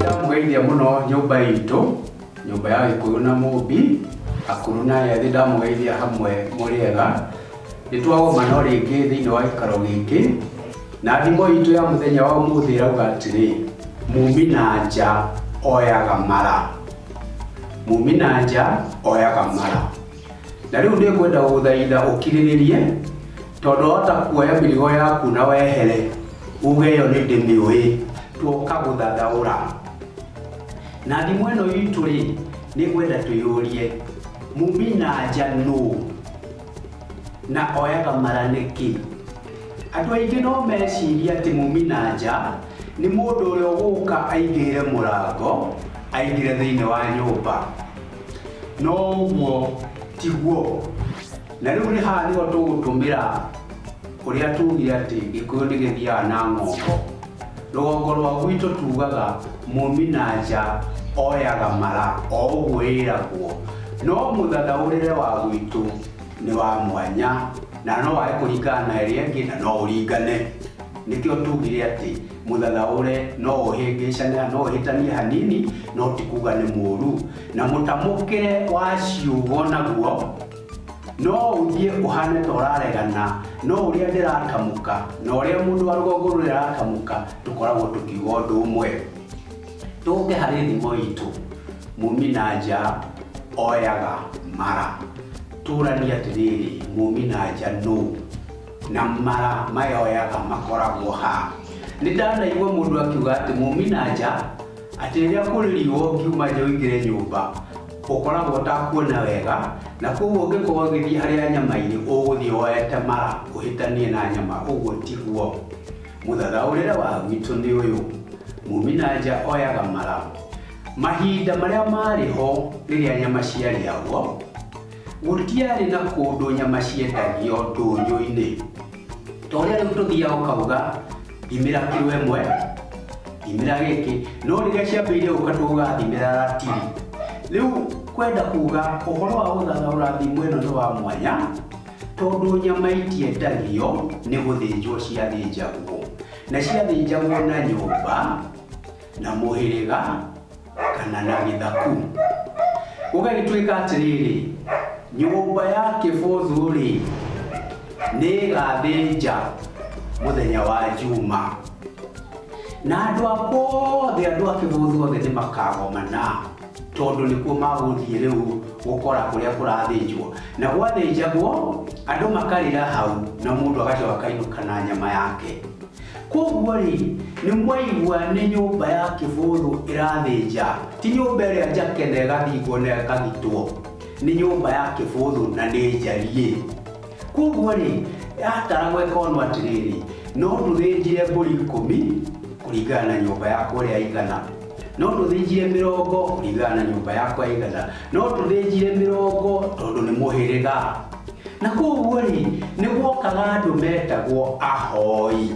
ndamũgeithia mũno nyũmba itũ nyũmba ya gĩkũyũ na mũmbi akũrũ na ethĩ ndamũgeithia hamwe mũrĩega nĩ twagoma no rĩngĩ thĩinĩ wa gĩikaro gĩkĩ na thimo itũ ya mũthenya wa ũmũthĩ ĩrauga atĩrĩ mumi na nja oyaga mara mumi na nja oyaga mara Na rĩu nĩngwenda gũgũthaitha ũkirĩrĩrie, tondũ wahota kuoya mĩrigo yaku na wehere, uge ĩyo nĩndĩmĩũĩ. Tuoka gũthathaũra. Na ndimũ ĩno itũ-rĩ, nĩngwenda twĩyũrie, mumi na nja nũũ? Na oyaga mara nĩkĩ? Andũ aingĩ no mecirie atĩ mumi na nja nĩ mũndũ ũrĩa ũgũka aingĩrĩre mũrango, aingĩre thĩiniĩ wa nyũmba. no ũguo tiguo na rĩu nĩ haha nĩho tũgũtũmĩra kũrĩa tugire atĩ gĩkũyũ nĩ gĩthiaga na ng'ongo rũgongo rwa gwitũ tugaga mũmi na nja oyaga mara o ũguo ĩragwo no mũthathaũrĩre wa gwitũ nĩ wa mwanya na no wae kũringana na ĩrĩa ĩngĩ na no ũringane nĩkĩo tugire atĩ Mũthanaũre no ũhĩngĩcana, no ũhĩtanie hanini, no ti kuga nĩ mũũru. Na mũtamũkĩre wa ciugo naguo, no ũthiĩ ũhane ta ũraregana, no ũrĩa ndĩratamũka, na ũrĩa mũndũ wa rũgongo rũrĩa aratamũka, tũkoragwo tũkiuga ũndũ ũmwe. Tũke harĩ thimo itũ, mumi na nja oyaga mara. Tũranie atĩrĩrĩ, mumi na nja nũ? na mara mayoyaga makoragwo ha? Nĩ ndanaigua mũndũ akiuga atĩ mũminanja, atĩ rĩrĩa kũrĩ riũa ũngiuma nja ũingĩre nyũmba, ũkoragwo ũtakuona wega, na kwoguo ũngĩkorwo ũgĩthiĩ harĩa nyama irĩ, ũgũthiĩ woete mara ũhĩtanie na nyama, ũguo tiguo. Mũthathaũrĩre wa gwitũ nĩ ũyũ, mũminanja oyaga mara mahinda marĩa marĩ ho rĩrĩa nyama ciarĩagwo. Gũtiarĩ na kũndũ nyama ciendagio ndũnyũ-inĩ. Ta ũrĩa rĩu tũthiaga ũkauga thimĩra kiro ĩmwe, thimĩra gĩkĩ, no rĩrĩa ciambĩrĩirie gũka tuugaga thimĩra ratiri. Rĩu kwenda kuuga ũhoro wa gũthathaũra thimo ĩno nĩ wa mwanya, tondũ nyama itiendagio nĩ gũthĩnjwo ciathĩnjagwo. Na ciathĩnjagwo na nyũmba, na mũhĩrĩga. kana na gĩthaku gũgagĩtuĩka atĩrĩrĩ nyũmba ya kĩbũthũ rĩ nĩ ĩgathĩnja mũthenya wa juma na andũ akwa othe andũ a kĩbũthũ othe nĩ makagomana tondũ nĩkuo magũthiĩ rĩu gũkora kũrĩa kũrathĩnjwo na gwathĩnjagwo andũ makarĩra hau na mũndũ agacoka akainũka na nyama yake Kwoguo-rĩ, nĩmwaigua nĩ nyũmba ya kĩbũthũ ĩrathĩnja, ti nyũmba ĩrĩa njake na ĩgathingwo na ĩkagitwo, nĩ nyũmba ya kĩbũthũ na nĩ njariĩ. Kwoguo-rĩ, yataragwo ĩkonwo atĩrĩrĩ, no ndũthĩnjire mbũri ikũmi kũringana na nyũmba yakwa ũrĩa ĩigana, no ndũthĩnjire mĩrongo kũringana na nyũmba yakwa ĩigana. No tũthĩnjire mĩrongo tondũ nĩ mũhĩrĩga. Na kwoguo-rĩ, nĩ gwokaga andũ metagwo ahoi.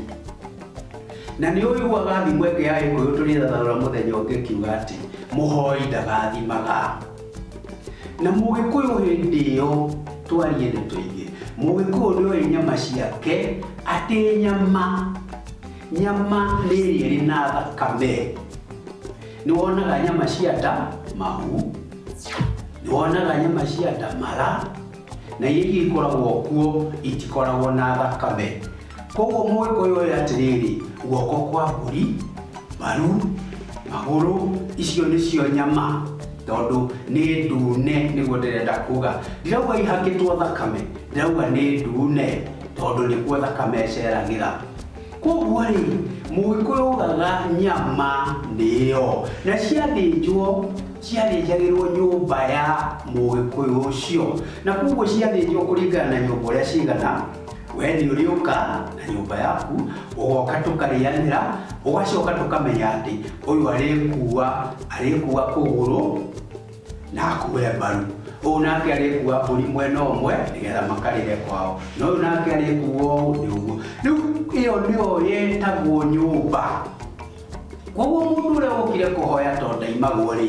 Na nĩ ũiguaga thimo ĩngĩ ya Gĩkũyũ tũrĩthathaũra mũthenya ũngĩ ĩkiuga atĩ, mũhoi ndagathimaga. Na Mũgĩkũyũ hĩndĩ ĩyo, twarie nĩ tũige, Mũgĩkũyũ nĩ oĩ nyama ciake, atĩ nyama, nyama nĩ ĩrĩa ĩrĩ na thakame. Nĩ wonaga nyama cia ta mahu, nĩ wonaga nyama cia ta mara, na iria ingĩ ikoragwo kuo itikoragwo na thakame. Kwoguo Mũgĩkũyũ oĩ atĩrĩrĩ, guoko kwa mbũri, mbaru, magũrũ, icio nĩcio nyama, tondũ nĩ ndune, nĩguo ndĩrenda kuga. Ndirauga ihakĩtwo thakame, ndĩrauga nĩ ndune, tondũ nĩkuo thakame ĩceragĩra. Kwoguo-rĩ, Mũgĩkũyũ augaga nyama nĩyo, na ciathĩnjwo ciathĩnjagĩrwo nyũmba ya Mũgĩkũyũ ũcio. Na kwoguo ciathĩnjwo kũringana na nyũmba ũrĩa cigana, we nĩ ũrĩũka na nyũmba yaku, ũgoka tũkarĩanĩra, ũgacoka tũkamenya atĩ ũyũ arĩkuua, arĩkuua kũgũrũ, na akue mbaru ũũ nake arĩkua mbũri mwena ũmwe nĩgetha makarĩre kwao na ũyũ nake arĩkuo ũũ nĩ ũguo rĩu ĩyo nĩyo yetagwo nyũmba koguo mũndũ ũrĩa wokire kũhoya to ndaimagwo rĩ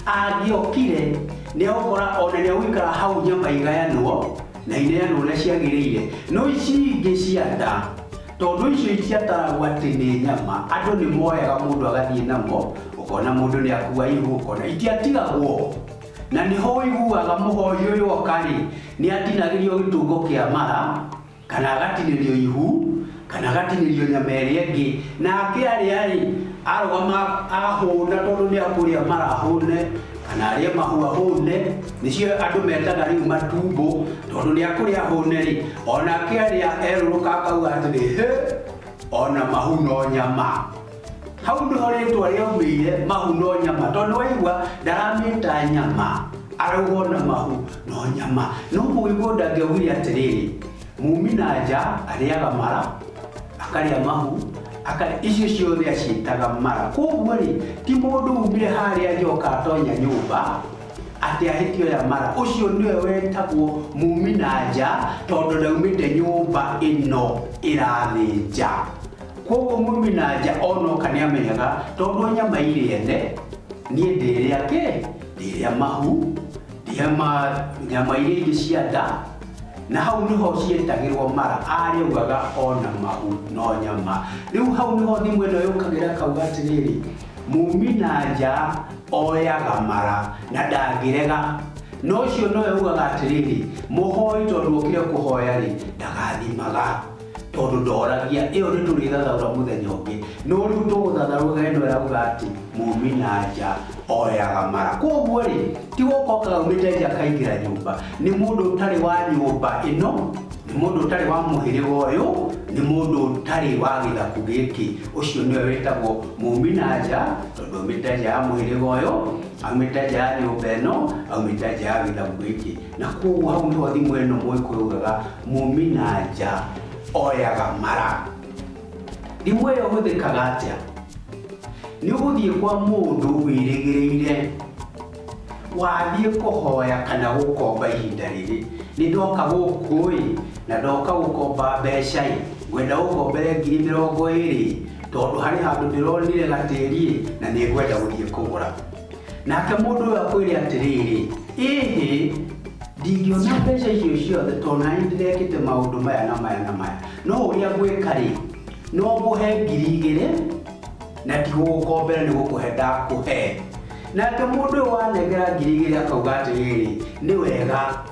angĩokire nĩ agũkora ona nĩ agũikara hau nyama igayanwo na ineyanwo ũrĩa ciagĩrĩire no ici ingĩ cia nda Tondũ icio ciataragwo atĩ nĩ nyama, andũ nĩ moyaga mũndũ agathiĩ namo, ũkona mũndũ nĩ akua ihu, ũkona itiatigagwo. Na nĩho ũiguaga mũhoi ũyũ oka-rĩ, nĩ atinagĩrio gĩtungo kĩa mara, kana agatinĩrio ihu, kana agatinĩrio nyama ĩrĩa ĩngĩ, na akĩarĩa-rĩ, arũgama ahũna tondũ nĩ akũrĩa mara ahũne. kana arĩe mahua hũne nĩcio andũ metaga rĩu matumbũ tondũ nĩ akũrĩa hũne rĩ ona akĩarĩa erũrũka akauga atĩrĩ hĩ ona mahu no nyama hau nĩho rĩtwa rĩaumĩire mahu no nyama tondũ waigua ndaramĩta nyama arauga ona mahu no nyama no mũgĩkũyũ ndangĩaugire atĩrĩrĩ Muumi na nja arĩaga mara, akarĩa mahu, akarĩa icio ciothe aciĩtaga mara. Kwoguo-rĩ, ti mũndũ uumire harĩa nja oka atonya nyũmba atĩ ahĩtia oya mara. Ũcio nĩwe wetagwo muumi na nja tondũ ndaumĩte nyũmba ĩno ĩrathĩ nja. Kwoguo muumi na nja onoka nĩamenyaga tondũ nyama irĩ ene, niĩ ndĩrĩa kĩ? Ndĩrĩa mahu, Ndĩama, nyama iria ingĩ cia nda, na hau nĩho cietagĩrwo mara, arĩaugaga o na mahu no nyama. Rĩu hau nĩho thimũ ĩno yũkagĩra ĩkauga atĩrĩrĩ, mumi na nja oyaga mara na ndangĩrega. Na ũcio nowe ugaga atĩrĩrĩ, mũhoi tondũ okire kũhoya-rĩ, ndagathimaga. Tondũ ndoragia, ĩyo nĩ tũrĩthathaũra mũthenya ũngĩ. No rĩu tũgũthathaũra ĩno ĩrauga atĩ, Muumi na nja oyaga mara. Kwoguo rĩ, ti gũka okaga aumĩte nja akaingĩra nyũmba. Nĩ mũndũ ũtarĩ wa nyũmba ĩno, nĩ mũndũ ũtarĩ wa mũhĩrĩga ũyũ, nĩ mũndũ ũtarĩ wa gĩthaku gĩkĩ. Ũcio nĩwe wĩtagwo muumi na nja, tondũ aumĩte nja ya mũhĩrĩga ũyũ, aumĩte nja ya nyũmba ĩno, aumĩte nja ya gĩthaku gĩkĩ. Na kwoguo hau nĩho thimo ĩno mũgĩkũyũ ugaga mumi na nja oyaga mara. Thimo ĩyo ĩhũthĩkaga atĩa? Nĩ ũgũthiĩ kwa mũndũ wĩrĩgĩrĩire, wathiĩ kũhoya kana gũkomba ihinda rĩrĩ, nĩ ndoka gũkũ ĩ, na ndoka gũkomba mbeca ĩ, ngwenda ũngombere ngiri mĩrongo ĩrĩ ĩ, tondũ harĩ handũ ndĩronire gatĩri ĩ, na nĩ ngwenda gũthiĩ kũgũra. Nake mũndũ ũyũ akwĩre atĩrĩrĩ, ĩhĩ, ndingĩona mbeca icio ciothe tondũ na nĩ ndĩrekĩte maũndũ maya na maya na maya. No ũrĩa ngwĩka-rĩ, no ngũhe ngiri igĩrĩ na ndigũgũkombera nĩ gũkũhe ndakũhe. Nake mũndũ ũyũ wanengera ngiri igĩrĩ akauga atĩrĩrĩ, nĩ wega.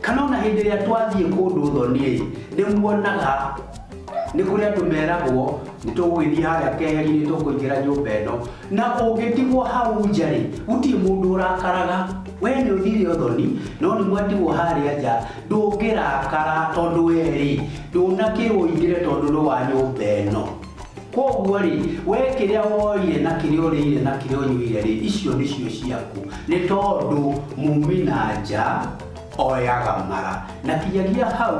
Kana ona hĩndĩ ĩrĩa twathiĩ kũndũ thoni-rĩ, nĩmuonaga nĩ kũrĩ andũ meragwo nĩtũgũgĩthiĩ harĩa keheri-inĩ nĩtũkũingĩra nyũmba ĩno, na ũngĩtigwo hau nja-rĩ, gũtirĩ mũndũ ũrakaraga. Wee nĩũthire ũthoni, no nĩmwatigwo harĩa nja, ndũngĩrakara tondũ wee-rĩ, ndũnakĩrwo ũingĩre tondũ nĩ wa nyũmba ĩno. Kwoguo-rĩ, wee kĩrĩa woire na kĩrĩa ũrĩire na kĩrĩa ũnyuire-rĩ, icio nĩcio ciaku, nĩ tondũ muumi na nja oyaga mara. Na kinyagia hau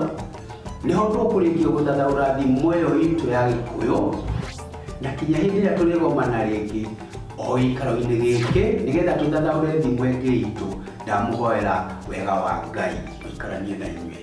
nĩho tũkũrĩkia gũthathaũra thimo ĩyo itũ ya Gĩkũyũ, na kinya hĩndĩ ĩrĩa tũrĩgomana rĩngĩ o gĩikaro-inĩ gĩkĩ, nĩgetha tũthathaũre thimo ĩngĩ itũ, ndamũhoera wega wa Ngai ũikaranie na inyuĩ.